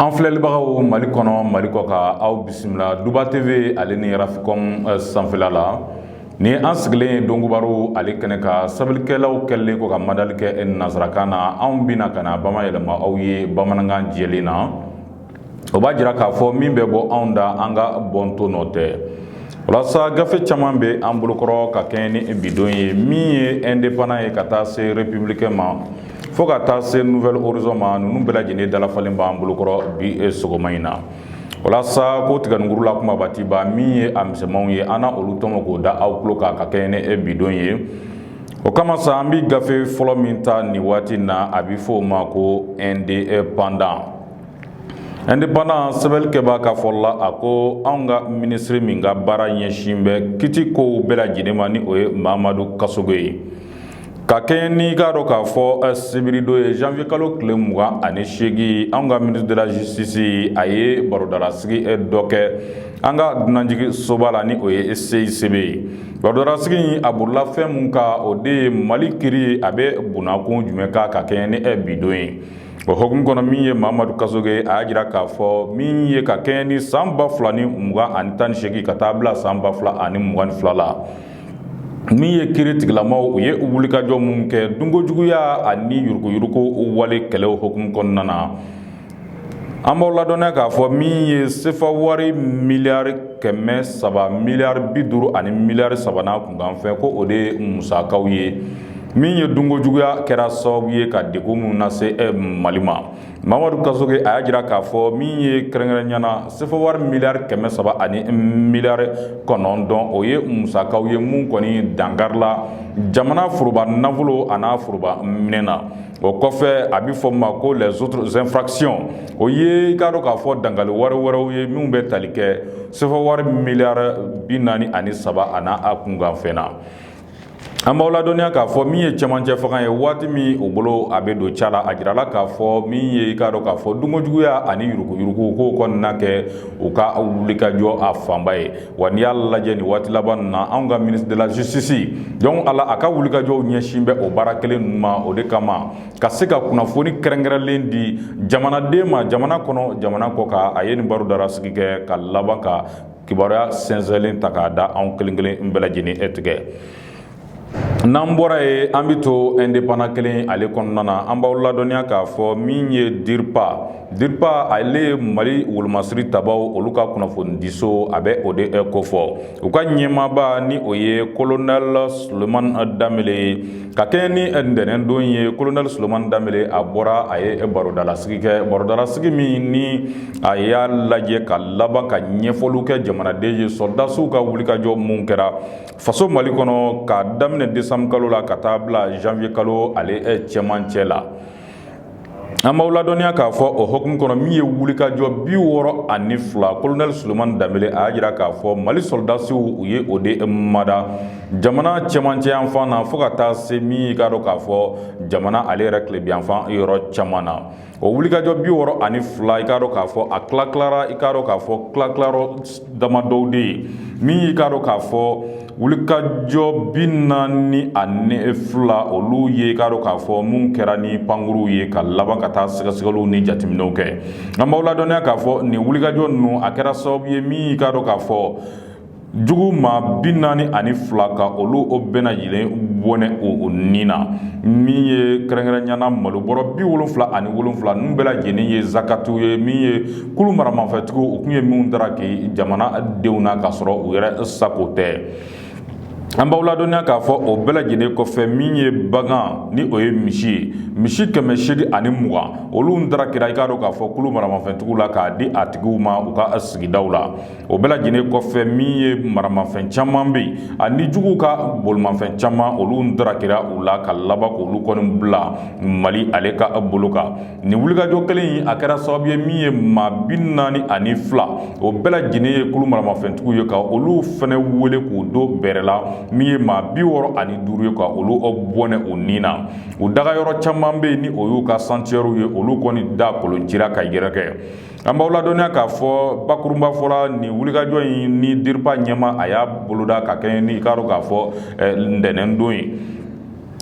an filɛlibagaw mali kɔnɔ mali kɔkan aw bisimila duba tv ale ni rafikɔm eh, sanfɛla la ni an sigilen ye donkibaru ale kɛnɛ kan sɛbɛnnikɛlaw kɛlen kɔ ka madali kɛ eh, nansarakan na anw bɛna ka na bamayɛlɛma aw ye bamanankan jɛlen na o b'a jira k'a fɔ min bɛ bɔ anw da an ka bɔnto nɔ tɛ o la sa gafe caman bɛ an bolokɔrɔ ka kɛɲɛ ni bidon ye min ye indépendant ye ka taa se républicain ma fo ka taa se nouvel horizon ma ninnu bɛɛ lajɛlen dalafalen b'an bolokɔrɔ bi sɔgɔma in na o la sa ko tigɛkuru la kuma baatiba min ye a misɛnmanw ye an na olu tɔmɔ k'o da aw tulo kan ka kɛɲɛ ni e bidon ye o kama sa an bɛ gafe fɔlɔ min ta nin waati na a bɛ fɔ o ma ko indépendant indépendant sɛbɛnni kɛbaa ka fɔ la a ko anw ka minisiri min ka baara ɲɛsin bɛ kiti kow bɛɛ lajɛlen ma ni o ye mamadu kasoge ye ka kɛɲɛ n'i k'a dɔn k'a fɔ eh, sibiridon ye janvier kalo tile mugan ani seegin anw ka ministre de la justice a ye baro dalasigi eh, dɔ kɛ an ka dunanjiginsoba la ni o ye CICB ye baro dalasigi in a bolila fɛn mun kan o de ye mali kiri a bɛ bunnakun jumɛn kan ka kɛɲɛ ni eh, bidon ye o hukumu kɔnɔ min ye mamadu kasoge a y'a jira k'a fɔ min ye ka kɛɲɛ ni san ba fila ni mugan ani tan ni seegin ka taa bila san ba fila ani mugan ni fila la min ye kiri tigilamaw u ye wulikajɔ minnu kɛ dunko juguya ani yuruguyuruguko wale kɛlɛ hukumu kɔnɔna na an b'aw ladɔnya k'a fɔ min ye sefa wari miliyari kɛmɛ saba miliyari bi duuru ani miliyari saba n'a kunkanfɛn ko o de ye musakaw ye min ye dunko juguya kɛra sababu ye ka deko minnu nase eh, mali ma mamadu kasoge a y'a jira k'a fɔ min ye kɛrɛnkɛrɛnya na sefa wari miliyari kɛmɛ saba ani miliyari kɔnɔntɔn o ye musakaw ye minnu kɔni dankarila jamana foroba nafolo a n'a foroba minɛn na o kɔfɛ a bɛ fɔ ma ko les autres infractions o ye i k'a dɔn k'a fɔ dankari wale wɛrɛw ye minnu bɛ tali kɛ sefa wari miliyari bi naani ani saba a n'a kunkanfɛn na An b'aw ladɔnya k'a fɔ min ye cɛmancɛ fanga ye waati min o bolo a bɛ don ca la a jirala k'a fɔ min ye i k'a dɔn k'a fɔ dunko juguya ani yuruguyurugu ko kɔni na kɛ u ka wulikajɔ a fanba ye wa n'i y'a lajɛ nin waati laban ninnu na an ka ministre de la justice don a la a ka wulikajɔw ɲɛsin bɛ o baara kelen ninnu ma o de kama ka se ka kunnafoni kɛrɛnkɛrɛnlen di jamanaden ma jamana kɔnɔ jamana kɔkan a ye nin baro dalasigi kɛ ka laban ka kibaruya sɛnsɛnnen ta k'a da anw kelenkelen bɛɛ lajɛlen tɛgɛ n'an bɔra yen an bɛ to indépendant kelen ale kɔnɔna na an b'aw ladɔnya k'a fɔ min ye DIRPA DIRPA ale ye mali wolomasiri tabaw olu ka kunnafonidiso a bɛ o de kofɔ u ka ɲɛmaaba ni o ye kolonɛli sulemani danbele ye Ka kɛɲɛ ni ntɛnɛn don ye kolonɛli sulemani danbele a bɔra a ye barodalasigi kɛ barodalasigi min ni a y'a lajɛ ka laban ka ɲɛfɔliw kɛ jamanaden ye sɔrɔdasiw ka wulikajɔ minnu kɛra faso mali kɔnɔ ka daminɛ desanburukalo la ka taa bila zanwuyekalo ale cɛmancɛ la an b'aw ladɔnniya k'a fɔ o hukumu kɔnɔ min ye wulikajɔ bi wɔɔrɔ ani fila kolonɛli sulemani danbele a y'a jira k'a fɔ mali sɔrɔdasiw u ye o de mada jamana cɛmancɛfan na fo ka taa se min y'i k'a dɔn k'a fɔ jamana ale yɛrɛ tilebinyanfan yɔrɔ caman na o wulikajɔ bi wɔɔrɔ ani fila i k'a dɔn k'a fɔ a tila tilara i k'a dɔn k'a fɔ tila dama dɔw de ye min y'i k'a dɔn k'a fɔ wulikajɔ bi naani ani fila olu ye i k'a dɔn k'a fɔ minnu kɛra ni pankurunw ye ka laban ka taa sɛgɛsɛgɛliw ni jateminɛw kɛ an b'aw ladɔnniya k'a fɔ nin wulikajɔ ninnu a kɛra sababu ye min y'i k'a dɔn k'a fɔ jugu maa bi naani ani fila ka olu o bɛɛ lajɛlen bɔnɛ u ni na min ye kɛrɛnkɛrɛnyana malo bɔrɔ bi wolonfila ani wolonfila ninnu bɛɛ lajɛlen ye zakatu ye min ye kulu maramafɛntigiw u tun ye minnu daraki jamanadenw na k'a sɔrɔ u yɛrɛ sago tɛ an b'aw ladɔnniya k'a fɔ o bɛɛ lajɛlen kɔfɛ min ye bagan ni o ye misi ye misi kɛmɛ seegi ani mugan olu darakira i k'a dɔn k'a fɔ kulu maramafɛntigiw la k'a di a tigiw ma u ka sigidaw la o bɛɛ lajɛlen kɔfɛ min ye maramafɛn caman bɛ yen ani juguw ka bolimafɛn caman olu darakira u la ka laban k'olu kɔni bila mali ale ka bolo kan Nin wulikajɔ kelen in a kɛra sababu ye min ye maa bi naani ani fila o bɛɛ lajɛlen ye kulu maramafɛntigiw ye ka olu fana wele k'u don bɛrɛ la min ye maa bi wɔɔrɔ ani duuru ye ka olu bɔnɛ u ni na u dagayɔrɔ caman bɛ yen ni o y'u ka santiyɛriw ye olu kɔni da kolon cira ka yɛrɛkɛ an b'aw ladɔnniya k'a fɔ bakurunba fɔra nin wulikajɔ ye ni diripa ɲɛmaa a y'a boloda ka kɛɲɛ ni i k'a dɔn k'a fɔ ntɛnɛn don ye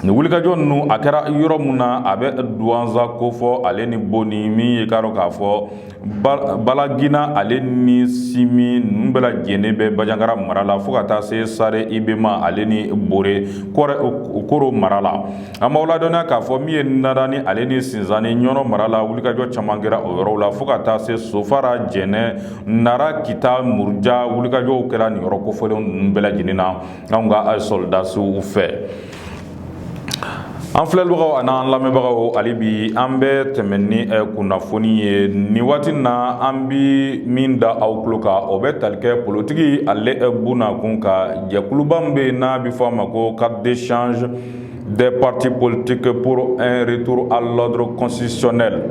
Nin wulikajɔ ninnu a kɛra yɔrɔ min na a bɛ duwanza kofɔ ale ni boni min y'i k'a dɔn k'a fɔ balagina ale ni simi ninnu bɛɛ lajɛlen bɛ bajangara mara la fo ka taa se sare ibɛma ale ni bɔrɛ koro mara la an b'aw ladɔnniya k'a fɔ min ye narani ale ni sinsanni ɲɔnɔ mara la wulikajɔ caman kɛra o yɔrɔw la fo ka taa se sofara jɛnɛ nara kita muruja wulikajɔw kɛra nin yɔrɔ kofɔlen ninnu bɛɛ lajɛlen na anw ka sɔrɔdasiw fɛ an filɛbagaw ani an lamɛnbagaw hali bi an bɛ tɛmɛ ni kunnafoni ye nin waati in na an bɛ min da aw tulo kan o bɛ tali kɛ politiki ale bɔnna kun kan jɛkuluba bɛ yen n'a bɛ fɔ a ma ko cadre d'échange Des partis politiques pour un retour à l'ordre constitutionnel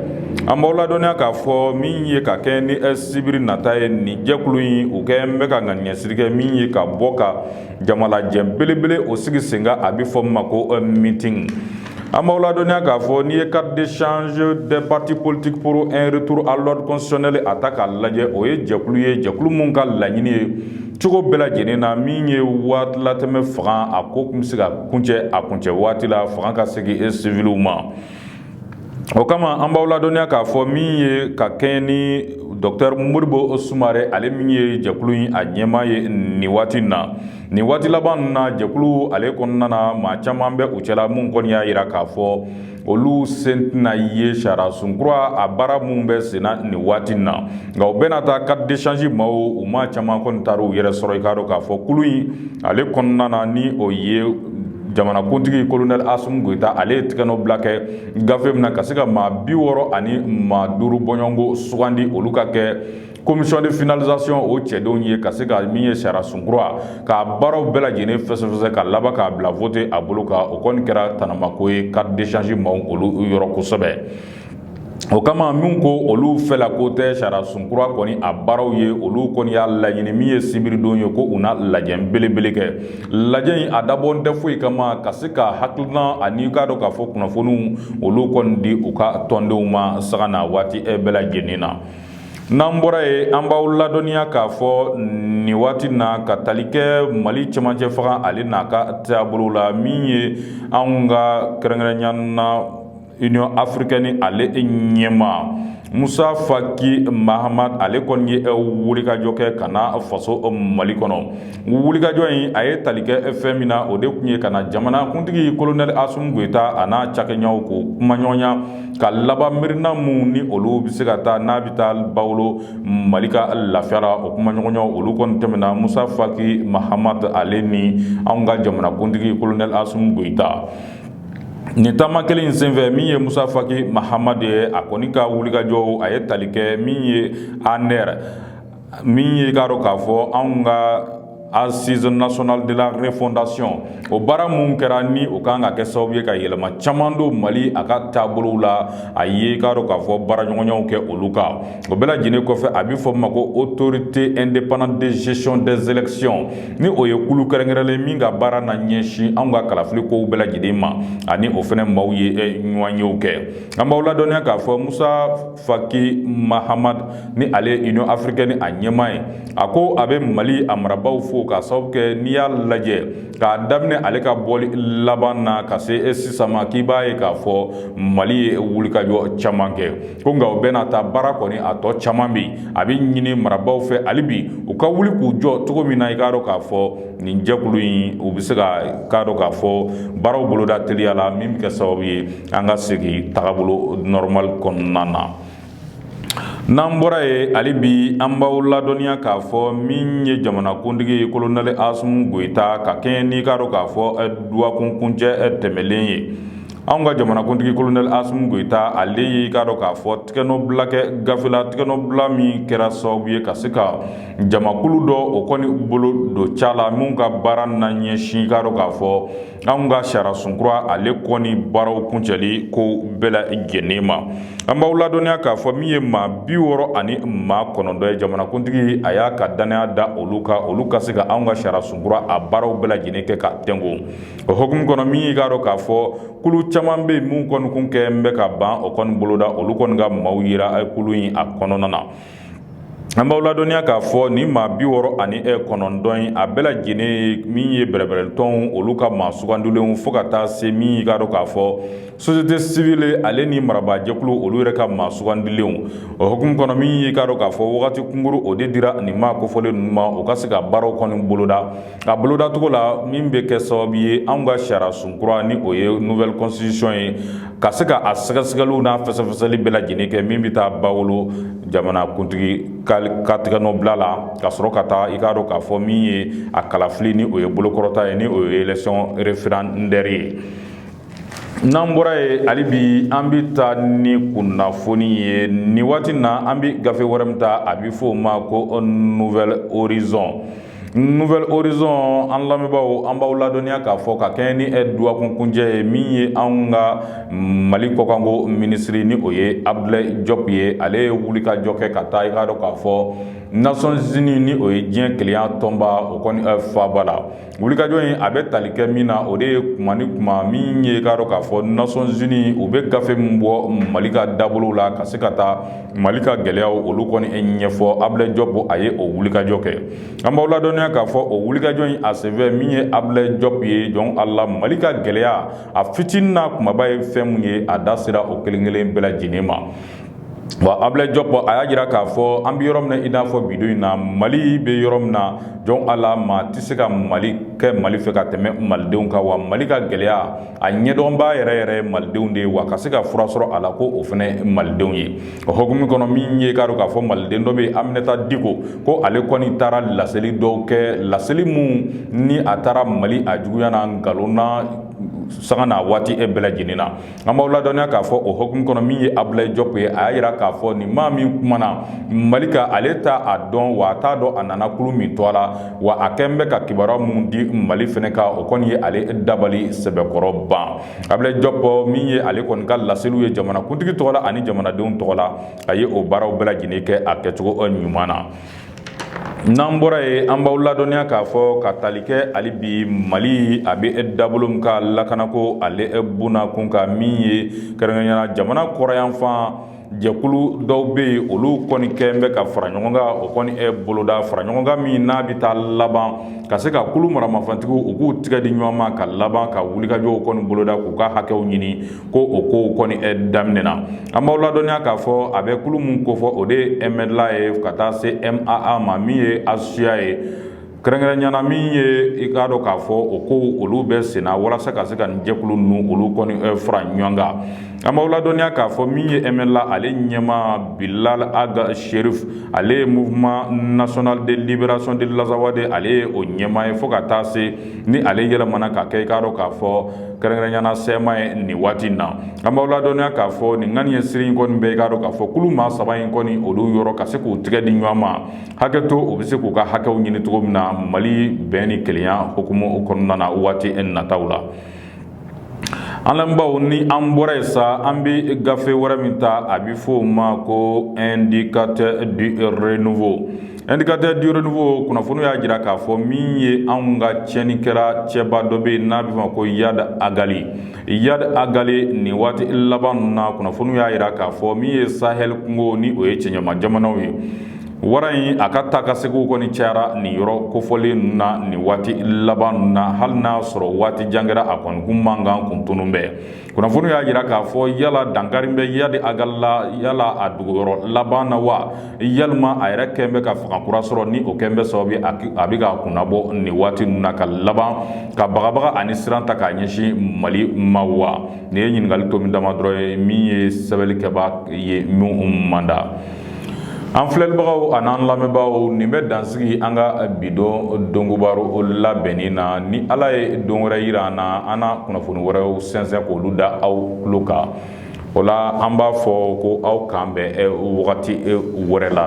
an b'aw ladɔnniya k'a fɔ min ye ka kɛɲɛ ni sibiri nata ye nin jɛkulu in u kɛlen bɛ ka ŋaniɲɛsiri kɛ min ye ka bɔ ka jamalajɛ belebele o sigi sen kan a bɛ fɔ min ma ko euh, meeting an b'aw ladɔnniya k'a fɔ n'i ye cadre d'échange des partis politiques pour un retour à l'ordre constitutionnel a ta k'a lajɛ o ye jɛkulu ye jɛkulu min ka laɲini ye cogo bɛɛ lajɛlen na min ye waatilatɛmɛ fanga a ko tun bɛ se ka kuncɛ a kuncɛ waati la fanga ka segin e siwiliw ma o kama an b'aw ladɔnniya k'a fɔ min ye ka kɛɲɛ ni dɔkitɛri Modibo Sumare ale min ye jɛkulu in a ɲɛmaa ye nin waati in na nin waati laban ninnu na jɛkulu ale kɔnɔna na maa caman bɛ u cɛla minnu kɔni y'a jira k'a fɔ olu sen tɛna ye sariyasun kura a baara minnu bɛ senna nin waati in na nka o bɛɛ n'a ta cadre d'échange maaw u maa caman kɔni taara u yɛrɛ sɔrɔ i k'a dɔn k'a fɔ kulu in ale kɔnɔna na ni o ye jamanakuntigi kolonɛli Asimi Goyita ale ye tɛgɛnɔbila kɛ gafe min na ka se ka maa biwɔɔrɔ ani maa duuru bɔɲɔgɔnko sugandi olu ka kɛ Commission de finalisation o cɛdenw ye ka se ka min ye sariyasun kura k'a baaraw bɛɛ lajɛlen fɛsɛfɛsɛ ka laban k'a bila wote a bolo kan o kɔni kɛra tanamako ye cadre d'échange maaw olu yɔrɔ kosɛbɛ o kama minnu ko olu fɛla ko tɛ sariyasun kura kɔni a baaraw ye olu kɔni y'a laɲini min ye sibiridon ye ko u na lajɛ belebele kɛ lajɛ in a dabɔ tɛ foyi kama ka se ka hakilina ani k'a dɔn k'a fɔ kunnafoniw olu kɔni di u ka tɔndenw ma sanga ni waati e bɛɛ lajɛlen na N'an bɔra yen an b'aw ladɔnniya k'a fɔ nin waati na ka tali kɛ Mali cɛmancɛ fanga ale n'a ka taabolo la min ye anw ka kɛrɛnkɛrɛnya na Union africaine ale ɲɛmaa Musa Faki Mahamat ale kɔni ye wulikajɔ kɛ ka na faso Mali kɔnɔ, wulikajɔ in a ye tali kɛ fɛn min na o de tun ye ka na jamanakuntigi Kolonɛli Asimi Goyita a n'a cakɛɲɔɔnw k'u kumaɲɔgɔnya ka laban miirina minnu ni olu bɛ se ka ta n'a bɛ taa ba wolo Mali ka lafiya la o kumaɲɔgɔnya olu kɔni tɛmɛna Musa Faki Mahamat ale ni an ka jamanakuntigi Kolonɛli Asimi Goyita nin taama kelen in senfɛ min ye Musa Faki Mahamat ye a kɔni ka wulikajɔ a ye tali kɛ min ye ANR min ye k'a dɔn k'a fɔ anw ka Assises nationales de la refondation o baara minnu kɛra ni u ka kan ka kɛ sababu ye ka yɛlɛma caman don mali a ka taabolo la a ye k'a dɔn k'a fɔ baaraɲɔgɔnyaw kɛ olu kan o bɛɛ lajɛlen kɔfɛ a bɛ fɔ min ma ko Autorité indépendante de gestion des élections ni o ye kulu kɛrɛnkɛrɛnlen min ka baara na ɲɛsin an ka kalafili kow bɛɛ lajɛlen ma a ni o fana maaw ye ɲɔgɔnyew kɛ an b'aw ladɔnniya k'a fɔ musa Faki Mahamat ni ale ye Union africaine a ɲɛmaa ye, a ko a bɛ Mali a marabaaw fo k'a sababu kɛ n'i y'a lajɛ k'a daminɛ ale ka bɔli laban na ka se e sisan ma k'i b'a ye k'a fɔ Mali ye wulikajɔ caman kɛ ko nka o bɛɛ n'a ta baara kɔni a tɔ caman bɛ yen a bɛ ɲini marabaaw fɛ hali bi u ka wuli k'u jɔ cogo min na i k'a dɔn k'a fɔ nin jɛkulu in u bɛ se ka k'a dɔn k'a fɔ baaraw boloda teliya la min bɛ kɛ sababu ye an ka segin tagabolo nɔrɔmali kɔnɔna na n'an bɔra ye hali bi an b'aw ladɔnniya k'a fɔ min ye jamanakuntigi ye kolonɛli Asimi Goyita ka kɛɲɛ n'i k'a dɔn k'a fɔ dɔgɔkun kuncɛ tɛmɛnen ye an ka jamanakuntigi kolonɛli Asimi Goyita ale y'i k'a dɔn k'a fɔ tɛgɛnɔbila kɛ gafe la tɛgɛnɔbila min kɛra sababu ye ka se ka jamakulu dɔ o kɔni bolo don ca la min ka baara na ɲɛsin k'a dɔn k'a fɔ anw ka sariyasun kura ale kɔni baaraw kuncɛli kow bɛɛ lajɛlen ma an b'aw ladɔnniya k'a fɔ min ye maa bi wɔɔrɔ ani maa kɔnɔntɔn ye jamanakuntigi a y'a ka dannaya da olu kan olu ka se ka anw ka sariyasun kura a baaraw bɛɛ lajɛlen kɛ ka tɛnko o hukumu kɔnɔ min y'i k'a dɔn k'a fɔ kulu caman bɛ yen minnu kɔni kun kɛ n bɛ ka ban o kɔni boloda olu kɔni ka maaw yira kulu in a kɔnɔna na An b'aw ladɔnniya k'a fɔ nin maa bi wɔɔrɔ ani e kɔnɔntɔn in a bɛɛ lajɛlen min ye bɛrɛbɛrɛtɔnw olu ka maa sugandilenw fo ka taa se min y'i k'a dɔn k'a fɔ société civile ale ni marabaajɛkulu olu yɛrɛ ka maa sugandilenw o hukumu kɔnɔ min y'i k'a dɔn k'a fɔ wagati kunkurun o de dira nin maa kofɔlen ninnu ma u ka se ka baaraw kɔni boloda nka bolodacogo la min bɛ kɛ sababu ye anw ka sariyasun kura ni o ye nouvelle constitution ye ka se ka a sɛgɛsɛgɛliw n'a fɛsɛfɛsɛli bɛɛ lajɛlen kɛ min bɛ taa ba wolo jamanakuntigi ka ka tɛgɛnɔbila la ka sɔrɔ ka taa i k'a dɔn k'a fɔ min ye a kalafili ni o ye bolokɔrɔta ye ni o ye élection référendaire ye n'an bɔra ye hali bi an bɛ taa ni kunnafoni ye nin waati na an bɛ gafe wɛrɛ min ta a bɛ fɔ o ma ko Nouvel Horizon Nouvel Horizon an lamɛnbagaw an b'aw ladɔnniya k'a fɔ ka kɛɲɛ ni dɔgɔkun kuncɛ ye min ye an ka mali kɔkanko minisiri ni o ye Abdoulaye Diop ye ale ye wulikajɔ kɛ ka taa i k'a dɔn k'a fɔ Nations unies ni o ye diɲɛ kelenya tɔnba o kɔni faba la wulikajɔ in a bɛ tali kɛ min na o de ye tuma ni tuma min ye k'a dɔn k'a fɔ Nations unies u bɛ gafe min bɔ mali ka dabolow la ka se ka taa Mali ka gɛlɛyaw olu kɔni e ɲɛfɔ Abdoulaye Diop a ye o wulikajɔ kɛ an b'aw ladɔnniya k'a fɔ o wulikajɔ in a senfɛ min ye Abdoulaye Diop ye jɔn a la mali ka gɛlɛya a fitinin n'a kumaba ye fɛn minnu ye a da sera o kelenkelen bɛɛ lajɛlen ma wa Abdoulaye Diop a y'a jira k'a fɔ an bɛ yɔrɔ min na i n'a fɔ bi don in na mali bɛ yɔrɔ min na jɔn a la maa tɛ se ka mali kɛ mali fɛ ka tɛmɛ malidenw kan wa mali ka gɛlɛya a ɲɛdɔnbaa yɛrɛ yɛrɛ ye malidenw de ye wa ka se ka fura sɔrɔ a la ko o fana malidenw ye o hukumu kɔnɔ min ye k'a dɔn k'a fɔ maliden dɔ bɛ aminata diko ko ale kɔni taara laseli dɔw kɛ laseli minnu ni a taara mali a juguya na nkalon na sanga ni waati e bɛɛ lajɛlen na an b'aw ladɔnniya k'a fɔ o hukumu kɔnɔ min ye abulayi jɔpu ye a y'a jira k'a fɔ nin maa min kumana mali kan ale t'a dɔn wa a t'a dɔn a nana kulu min tɔgɔ la wa a kɛlen bɛ ka kibaruya minnu di mali fana kan o kɔni ye ale dabali sɛbɛkɔrɔ ban abulayi jɔpu min ye ale kɔni ka laseliw ye jamanakuntigi tɔgɔ la ani jamanadenw tɔgɔ la a ye o baaraw bɛɛ lajɛlen kɛ a kɛcogo ɲuman na n'an bɔra yen an b'aw ladɔnniya k'a fɔ ka tali kɛ hali bi mali a bɛ e dabolo min kan lakanako ale e bna kun ka min ye kɛrɛnkɛrɛnnenya na jamana kɔrɔnyanfan Jɛkulu dɔw bɛ yen olu kɔni kɛlen bɛ ka fara ɲɔgɔn kan o kɔni e boloda faraɲɔgɔnkan min n'a bɛ taa laban ka se ka kulu maramafɛntigiw u k'u tɛgɛ di ɲɔgɔn ma ka laban ka wulikajɔw kɔni boloda k'u ka hakɛw ɲini ko o kow kɔni e daminɛna an b'aw ladɔnniya k'a fɔ a bɛ kulu min ko fɔ o de ye MNLA ye ka taa se MAA ma min ye HCUA ye kɛrɛnkɛrɛnnenya na min ye i k'a dɔn k'a fɔ o kow olu bɛ senna walasa ka se ka nin jɛkulu ninnu olu kɔni fara ɲɔgɔn kan an b'aw ladɔnniya k'a fɔ min ye MNLA ale ɲɛmaa bilal ag cherif ale ye mouvement national de libération de l'azawad ale ye o ɲɛmaa ye fo ka taa se ni ale yɛlɛmana ka kɛ i k'a dɔn k'a fɔ kɛrɛnkɛrɛnnenya na CMA ye nin waati in na an b'aw ladɔnniya k'a fɔ nin ŋaniya siri in kɔni bɛ i k'a dɔn k'a fɔ kulu maa saba in kɔni olu yɔrɔ ka se k'u tɛgɛ di ɲɔgɔn ma hakɛ to u bɛ se k'u ka hakɛw ɲini cogo min na mali bɛn ni kelenya hukumu kɔnɔna na waati e nataw la an lamɛnbaaw ni an bɔra yen sa an bɛ gafe wɛrɛ min ta a bɛ fɔ o ma ko indicateur du renouveau indicateur du renouveau kunnafoniw y'a jira k'a fɔ min ye anw ka tiɲɛni kɛra cɛba dɔ bɛ yen n'a bɛ fɔ a ma ko iyad ag ghali iyad ag ghali nin waati laban ninnu na kunnafoniw y'a jira k'a fɔ min ye sahel kungo ni o ye cɛncɛnma jamanaw ye wara in a ka taakaseginw kɔni cayara nin yɔrɔ kofɔlen ninnu na nin waati laban ninnu na hali n'a sɔrɔ waati jan kɛra a kɔni kun mankan kun tununnen bɛ kunnafoni y'a jira k'a fɔ yala dankarilen bɛ iyad ag ghali la yala a dogoyɔrɔ laban na wa walima a yɛrɛ kɛlen bɛ ka fanga kura sɔrɔ ni o kɛlen bɛ sababu ye a bɛ k'a kunnabɔ nin waati ninnu na ka laban ka bagabaga ani siran ta k'a ɲɛsin mali ma wa nin ye ɲininkali tomi dama dɔrɔn ye min ye sɛbɛnnikɛbaa ye min manda An filɛbagaw ani an lamɛnbagaw nin bɛ dan sigi an ka bi don dɔnko baro labɛnnen na ni ala ye don wɛrɛ jira an na an na kunnafoni wɛrɛw sɛnsɛn k'olu da aw tulo kan o la an b'a fɔ ko aw k'an bɛn wagati wɛrɛ la